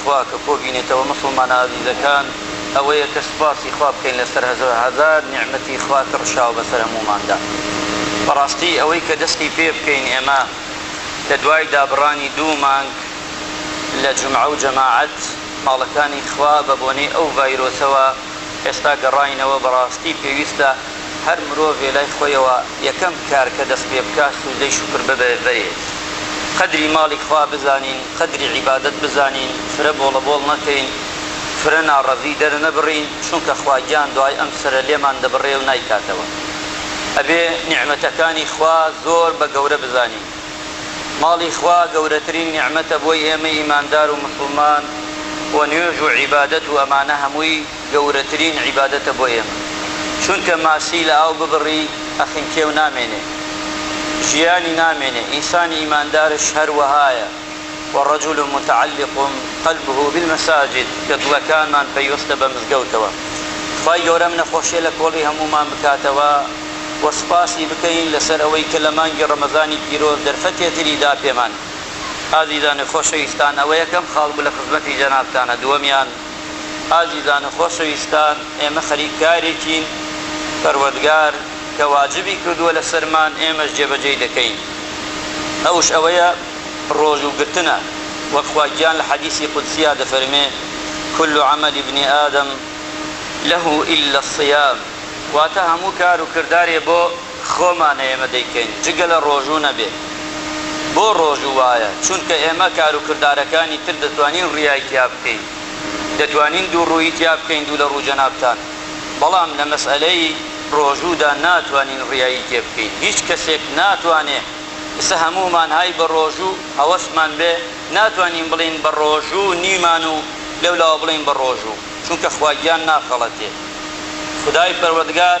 خوا کە کۆبینێتەوە موسڵمانە ئازیزەکان ئەوەیە کە سوپاسی خوا بکەین لەسەر هەزار نیعمەتی خوا کە ڕشاوە بەسەر هەمووماندا بەڕاستی ئەوەی کە دەستی پێ بکەین ئێمە لە دوای دابڕانی دوو مانگ لە جومعە و جەماعەت ماڵەکانی خوا بە بۆنەی ئەو ڤایرۆسەوە ئێستا گەڕاینەوە بەڕاستی پێویستە هەر مرۆڤێ لای خۆیەوە یەکەم کار کە دەست پێ بکا سوجدەی شوکر ببێ بەرێ قەدری ماڵی خوا بزانین قەدری عیبادەت بزانین فرە بۆڵە بۆڵ نەکەین فرە ناڕەزی دەر نەبڕین چونکە خوا گیان دوعای ئەم سەرە لێمان دەبڕێ و نایکاتەوە ئەبێ نیعمەتەکانی خوا زۆر بە گەورە بزانین ماڵی خوا گەورەترین نیعمەتە بۆی ئێمەی ئیماندار و موسڵمان و نوێژ و عیبادەت و ئەمانە هەمووی گەورەترین عیبادەتە بۆ ئێمە چونکە ماسی لە ئاو ببڕی ئەخنکێ و نامێنێ ژیانی نامێنێ ئینسانی ئیماندارش هەروەهایە و رجل متعلق قلبه بالمساجد کە دڵەکانمان پەیوەستە بە مزگەوتەوە خوای گەورە ئەم نەخۆشیە لە کۆڵی هەموومان بکاتەوە و سوپاسی بکەین لەسەر ئەوەی کە لە مانگی رەمەزانی پیرۆز دەرفەتێ تری دا پێمان. ئازیزان و خۆشەویستان ئەوە یەکەم خاڵ بوو لە خزمەتی جەنابتانا دووەمیان، ئازیزان و خۆشەویستان ئێمە خەریک کارێکین پەروەردگار کە واجبی کردووە لەسەرمان ئێمەش جێبەجێی دەکەین ئەوش ئەوەیە ڕۆژوو گرتنە وەک خوا گیان لە حەدیسی قودسیا دەفەرمێ کل عمل ابن آدم له الا الصیام واتە هەموو کار و کردارێ بۆ خۆمانە ئێمە دەیکەین جگە لە ڕۆژوو نەبێ بۆ ڕۆژوو وایە چونکە ئێمە کارو کردارەکانی تر دەتوانین ڕیای تیا بکەین دەتوانین دوو ڕوویی تیا بکەین دوو لە ڕوو جەنابتان بەڵام لە مەسئەلەی ڕۆژوودا ناتوانین ڕیایی تێ بکەین هیچ کەسێک ناتوانێ ئێستا هەموومان های بە ڕۆژوو هەوەسمان بێ ناتوانین بڵێین بە ڕۆژوو نیمان و لەو لاوە بڵێین بە ڕۆژوو چونکە خواگیان ناخەڵەتێ خودای پەروەردگار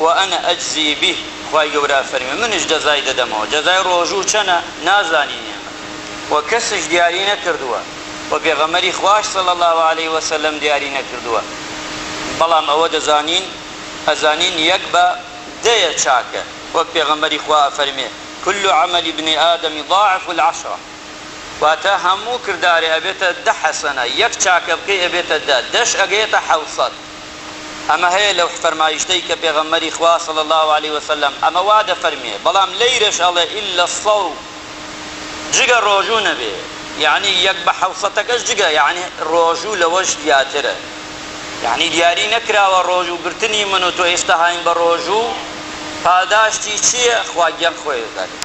وأنا أجزی به خوای گەورە ئەفەرموێ منیش جەزای دەدەمەوە جەزای ڕۆژوو چەنە نازانین ئێمە وە کەسیش دیاری نەکردووە وە پێغەمبەری خوایش صلی اللە علیە وسلم دیاری نەکردووە بەڵام ئەوە دەزانین ئەزانین یەک بە دەیە چاکە وەک پێغەمبەری خوا ئەفەرموێ کل عمل ابن آدم ضاعف العشرە واتە هەموو کردارێ ئەبێتە دە حەسەنە یەک چاکە بکەی ئەبێتە دە دەش ئەگەیەتە حەوسەد ئەمە هەیە لەو فەرمایشتەی کە پێغەمبەری خوا صلی اللە علیە وسلم ئەمە وا دەفەرموێ بەڵام لەیرەش ئەڵێ الا الصوم جگە ڕۆژوو نەبێ یەعنی یەک بە حەوسەتەکەش جگە یەعنی ڕۆژوو لەوەش زیاترە یەعنی دیاری نەکراوە ڕۆژوو گرتنی من و تۆ ئێستا هاین بە ڕۆژوو پاداشتی چییە خوا گیان خۆی دەزانێ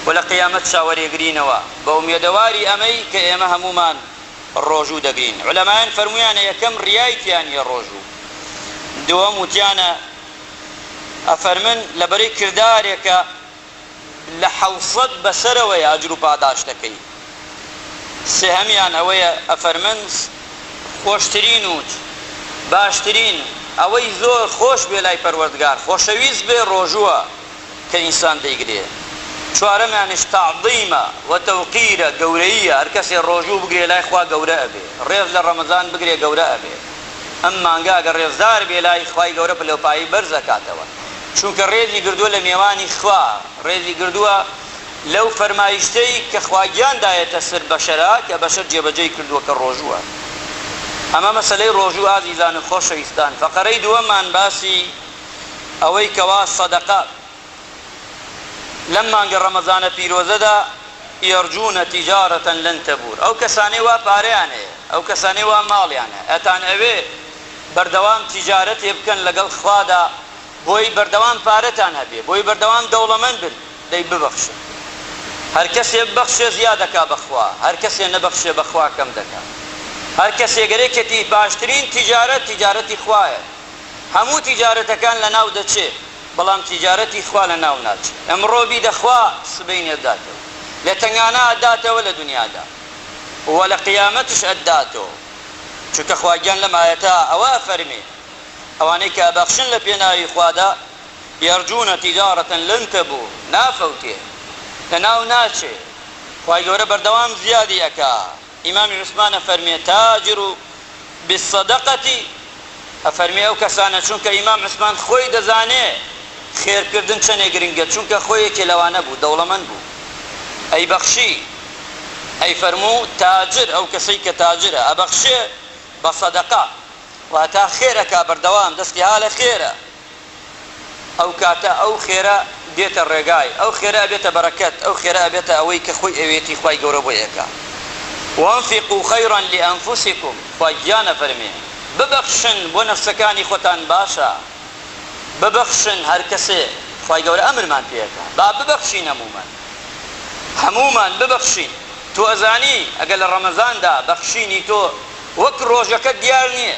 و لە قیامەت چاوەرێگرینەوە بە ئومێدەواری ئەمەی کە ئێمە هەموومان ڕۆژوو دەگرین عولەمایان فەرموویانە یەکەم ڕیای تیا نیە ڕۆژوو دووەم وتیانە ئەفەرمن لەبەرەی کردارێکە لە حەوسەت بەسەرەوەیە ئەجر و پاداشتەکەی سێهەمیان ئەوەیە ئەفەرمن خۆشترین وت باشترین ئەوەی زۆر خۆش بێ لای پەروەردگار خۆشەویست بێ ڕۆژووە. کە ئینسان دەیگرێ. چوارەمیانیش تەعزیمە و تەوقیرە، گەورەییە، هەر کەسێ ڕۆژوو بگرێ لای خوا گەورە ئەبێ، ڕێز لە ڕەمەزان بگرێ گەورە ئەبێ. ئەم مانگە گەر ڕێزدار بێ لای خوای گەورە پلەوپایەی بەرز ئەکاتەوە. چونکە ڕێزی گردووە لە مێوانی خوا، ڕێزی گردووە لەو فەرمایشتەی کە خواگیان دایەتە سەر بەشەرا کە بەشەر جێبەجێی کردووە کە ڕۆژووە. ئەمە مەسەلەی ڕۆژوو ئازیزان و خۆشەویستان. فەقەرەی دووەممان باسی. ئەوەی کەوا سەدەقە لەم مانگە ڕەمەزانە پیرۆزەدا یەرجوونە تیجارە لەن تەبوور ئەو کەسانەی وا پارەیان هەیە ئەو کەسانەی وا ماڵیان هەیە ئەتان ئەوێ بەردەوام تیجارەتێ بکەن لەگەڵ خوادا بۆی بەردەوام پارەتان هەبێ بۆی بەردەوام دەوڵەمەند بن دەی ببەخشن هەر کەسێ ببەخشێ زیا دەکا بەخوا هەر کەسێ نەبەخشێ بەخوا کەم دەکا هەر کەسێ گەرێکێتی باشترین تیجارەت تیجارەتی خوایە هەموو تیجارەتەکان لەناو دەچێ بەڵام تیجارەتی خوا لەناو ناچێ ئەمڕۆ بیدە خوا سبەینێ ئەتداتەوە لە تەنگانە ئەتداتەوە لە دنیادا و لە قیامەتش ئەتداتەوە چونکە خواگیان لەم ئایەتە ئەوە ئەفەرمێ ئەوانەی کە ئەبەخشن لە پێناوی خوادا یەرجونە تیجارەتەن لەن تەبور نافەوتێ لەناو ناچێ خوای گەورە بەردەوام زیادی ئەکا. ئیمامی عوسمان ئەفەرمێ، تاجرو بالصدقەتی، ئەفەرمێ ئەو کەسانە، چونکە ئیمام عوسمان خۆی دەزانێ خێر کردن چەنێ گرنگە، چونکە خۆی یەکێ لەوانە بوو، دەوڵەمەند بوو ئەیبەخشی، ئەیفەرموو تاجر، ئەو کەسەی کە تاجرە ئەبەخشێ بە صدقە، واتە خێر ئەکا بەردەوام دەستی ها لە خێرە. ئەو کاتە ئەو خێرە دێتە ڕێگای، ئەو خێرە ئەبێتە بەرەکەت، ئەو خێرە ئەبێتە ئەوەی کە خۆی ئەوێتی خوای گەورە بۆی ئەکا، وانفقوا خیرا لانفسکم، خوا گیان ئەفەرمێ ببەخشن بۆ نەفسەکانی خۆتان باشە، ببەخشن هەر کەسێ خوای گەورە ئەمرمان پێ ئەکا با ببەخشین هەموومان، هەموومان ببەخشین، تۆ ئەزانی ئەگەر لە ڕەمەزاندا بەخشینی تۆ وەک ڕۆژەکە دیار نیە،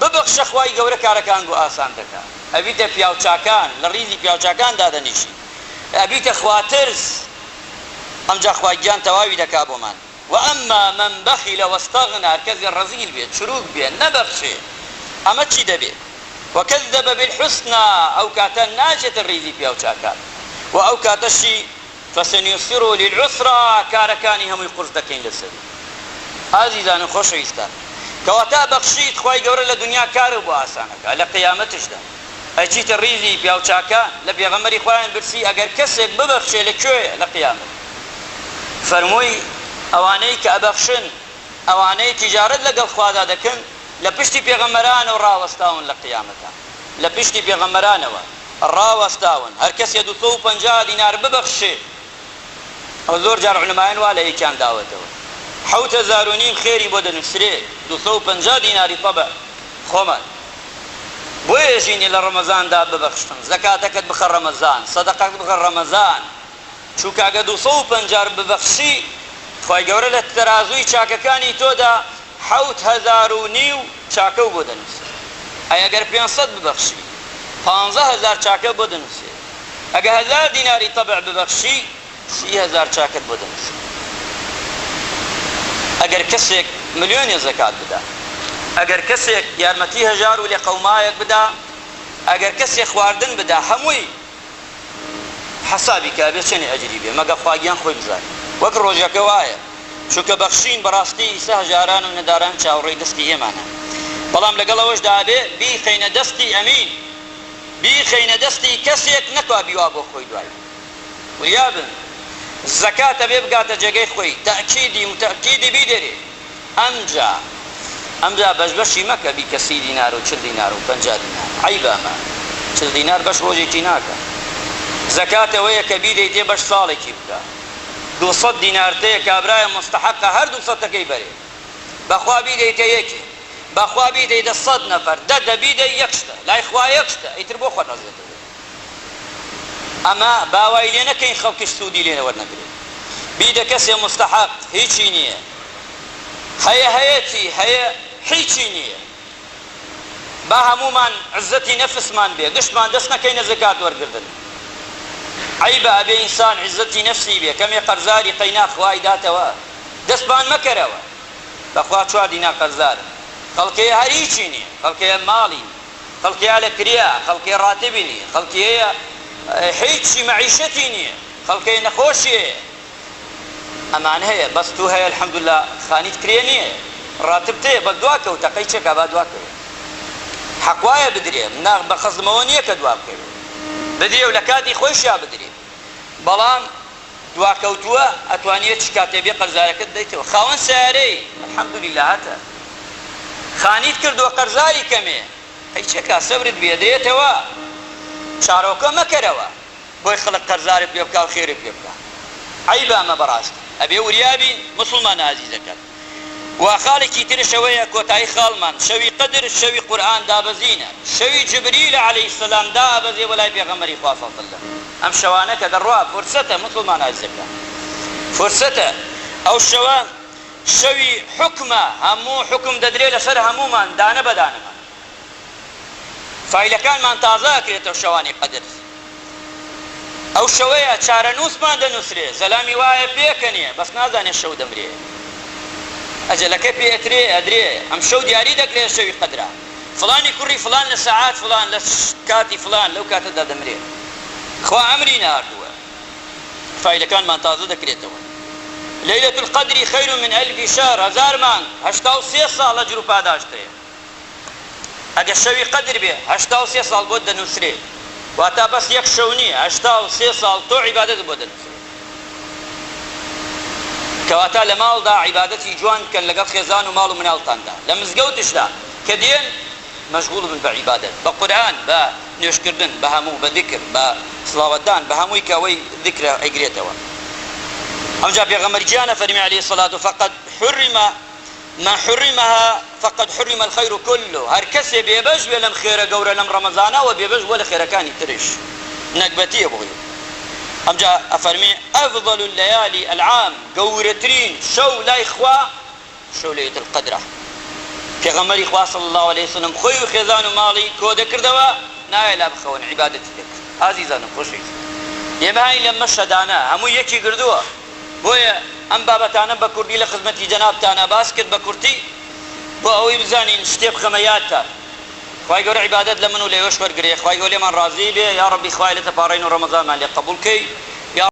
ببەخشە خوای گەورە کارەکان بۆ ئاسان دەکا ئەبیتە پیاو چاکان لە ڕیزی پیاو چاکان دادەنیشی ئەبیتە خواترس ئەمجا خوای گیان تەواوی دەکا بۆمان وەئەما من بەخیلە وەستەغنا هەرکەسێ ڕەزیل بێ چروک بێ نەبەخشێ ئەمە چی دەبێ وەکەزەبە بالحسنا ئەوکاتە ناچێتە ڕیزی پیاو چاکان وە ئەوکاتەشی فسنیسره للعسری کارەکانی هەمووی قورس دەکەین لەسەری ئازیزان و خۆشەویستان کەواتە بەخشیت خوای گەورە لە دونیا کارت بۆ ئاسان ئەکات لە قیامەتشدا ئەچیتە ڕیزی پیاو چاکان لە پێغەمبەری خوایان پرسی ئەگەر کەسێک ببەخشێ لە کوێیە لە قیامەت فەرمووی ئەوانەی کە ئەبەخشن ئەوانەی تیجارەت لەگەڵ خوادا دەکەن لە پشتی پێغەمبەرانەوە ڕاوەستاون لە قیامەتا. لە پشتی پێغەمبەرانەوە ڕاوەستاون هەر کەسێ دوو سەد و پەنجا دینار ببەخشێ ئەوە زۆر جار علمایان وا لە یەکیان داوەتەوە حەوت هەزار و نیم خێری بۆ دەنوسرێ دوو سەد و پەنجا دیناری طبع خۆمان بۆ ئێژینی لە ڕەمەزاندا ببەخشن زەکاتەکەت بخە ڕەمەزان سەدەقەت بخە ڕەمەزان چونکە ئەگە دوو سەد و پەنجا ر ببەخشی خوای گەورە لە تەرازووی چاکەکانی تۆدا حەوت هەزار و نیو چاکەو بۆ دەنووسێ ئەی ئەگەر پێنج سەد ببەخشی پانزە هەزار چاکە بۆ دەنووسێ ئەگە هەزار دیناری تەبع ببەخشی سی هەزار چاکەت بۆ دەنووسێ ئەگەر کەسێک ملیۆنێ زەکات بدا ئەگەر کەسێک یارمەتی هەژار و لێقەومایەک بدا ئەگەر کەسێ خواردن بدا هەمووی حەسابی کە ئەبێ چەنێ ئەجری بێ مەگە خواگیان خۆی بزانێ وەک ڕۆژەکە وایە چونکە بەخشین بەڕاستی ئیسە هەژاران و نەداران چاوەڕێی دەستی ئێمانە بەڵام لەگەڵ ئەوەشدا ئەبێ بیخەینە دەستی ئەمین بیخەینە دەستی کەسێک نەکا بیوا بۆ خۆی دوای وریابن زەکات ئەبێ بگاتە جێگەی خۆی تەئکیدی موتەئکیدی بیدەرێ. ئەمجا ئەمجا بەش بەشی مەکە بیکە سی دینار و چل دینار و پەنجا دینار عەیبە ئەمە چل دینار بەش ڕۆژێکی ناکا زەکات ئەوەیە کە بیدەیتێ بەش ساڵێکی بکە دوو سەد دینار تەیە کابرایە موستەحەقە هەر دوو سەتەکەی بەرێ بەخوا بیدەیتە یەکێ بەخوا بیدەیدە سەد نەفەر دە دە بیدەی یەک شتە لای خوا یەک شتە ئیتر بۆ خۆت عەزێتت ئەمە با وای لێ نەکەین خەڵکیش سوودی لێ وەرنەگرێ بی دە کەسێ موستەحەق هیچی نییە هەیە هەیە چی هەیە هیچی نییە با هەموومان عزەتی نەفسمان بێ گشتمان دەست نەکەینە زەکات وەرگردن عەیبە ئەبێ ئینسان عزەتی نەفسی بێ کەمێ قەرزاری قەینا خوا ئەیداتەوە دەستمان مەکەرەوە بەخوا چوار دینار قەرزارم خەڵک هەیە هەر هیچی نییە خەڵک هەیە ماڵی نییە. خەڵکی ئالە کریا، خەڵکی ڕاتبی نیە، خەڵکی هەیە هیچی مەعیشەتی نیە، خەڵکی نەخۆشی هەیە. ئەمان هەیە بەس تو هەیە الحمداللە خانیت کرێ نیە ڕاتبت هەیە بەس دوا کەوتە قەی چێکا با دوا کەوێ حەق وایە بدرێ نا بە خەزمەوە نیە کە دوا بکەوێ بدرێ و لە کاتی خۆیشیا بدرێ بەڵام دواکەوتووە ئەتوانی هەرچی کاتێ بێ قەرزارەکەت دەیتەوە خاوەن سەیارەی الحمدللە هەتە خانیت کردووە قەرزاری کەمێ ئەی چەکا سەبرت بێ دەیەتەوە چارۆکە مەکەرەوە بۆی خەڵک قەرزارت پێ بکاو خێرت پێ بکا عەیبە ئەمە بەڕاستی ئەبێ وریا بین موسڵمانە ئازیزەکان. و خاڵێکی ترش ئەوەیە کۆتایی خاڵمان شەوی قەدر شەوی قورئان دابەزینە شەوی جبریل علیە سلام دائەبەزێ بۆ لای پێغەمبەری خوا صلی اللە ئەم شەوانە کە دەڕوا فرسەتە موسڵمانە ئازیزەکان فرسەتە ئەو شەوە شەوی حوکمە هەموو حوکم دەدرێ لەسەر هەموومان دانە بەدانەمان فایلەکانمان تازە ئەکرێتەوە شەوانی قەدر ئەو شەوەیە چارەنووسمان دەنووسرێ زەلامی وایە پێکەنێ بەس نازانێ شەو دەمرێ ئەجەلەکەی پێ ئەترێ ئەدرێ ئەمشەو دیاری دەکرێ شەوی قەدرە فڵانی کوڕی فڵان لە سەعات فڵان لە کاتی فڵان لەو کاتەدا دەمرێ خوا ئەمری ناردووە فایلەکانمان تازە دەکرێتەوە لەیلەتولقەدری خەیرو من ئەلفی شەهر هەزار مانگ هەشتا و سێ ساڵە جروپاداشتەیە. ئەگەر شەوی قەدر بێ هەشتا و سێ ساڵ بۆت دەنوسرێ واتا بەس یەک شەو نیە هەشتا و سێ ساڵ تۆ عیبادەتت بۆ دەنوسرێ کەواتا لە ماڵدا عیبادەتی جوان بکەن لەگەڵ خێزان و ماڵ و مناڵتاندا لە مزگەوتشدا کە دێن مەشغوڵ بن بە عیبادەت بە قورئان بە نوێژ کردن بە هەموو بە زیکر بە سڵاوەت دان بە هەمووی کە ئەوەی زیکرە ئەیگرێتەوە ئەوجا پێغەمبەر گیان ئەفەرمێ علیە سلاتو فقد حرمە ما حرمها فقد حرم الخیر کله، هەر کەسێ بێ بەش بێ لەم خێرە گەورە لەم ڕەمەزانە ئەوە بێ بەش بووە لە خێرەکانی تریش نەگبەتیە بۆی، ئەمجا ئەفەرمێ افضل اللیالی العام گەورەترین شەو لای خوا شەو لیلە القدرە، پێغەمبەری خوا صلی اللە علیە وسلم خۆی و خێزان و ماڵی کۆدەکردەوە نایە لا بخەون عیبادەتی دەکرد، ئازیزانم خۆشەویستان ئێمە هاین لەم مەشهەدانە هەمووی یەکی گردووە، بۆیە ئەم بابەتانەم بە کوردی لە خزمەتی جەنابتانا باس کرد بە کورتی بۆ ئەوەی بزانین شتێ بخەمە یادتان خوای گەورە عیبادەت لە من و لە ئێوەش وەرگرێ خوای گەوە لێمان ڕازی بێ یاڕەبی خوایە لێتە پاڕێین و ڕەمەزانمان لێ قەبوڵ کەی یا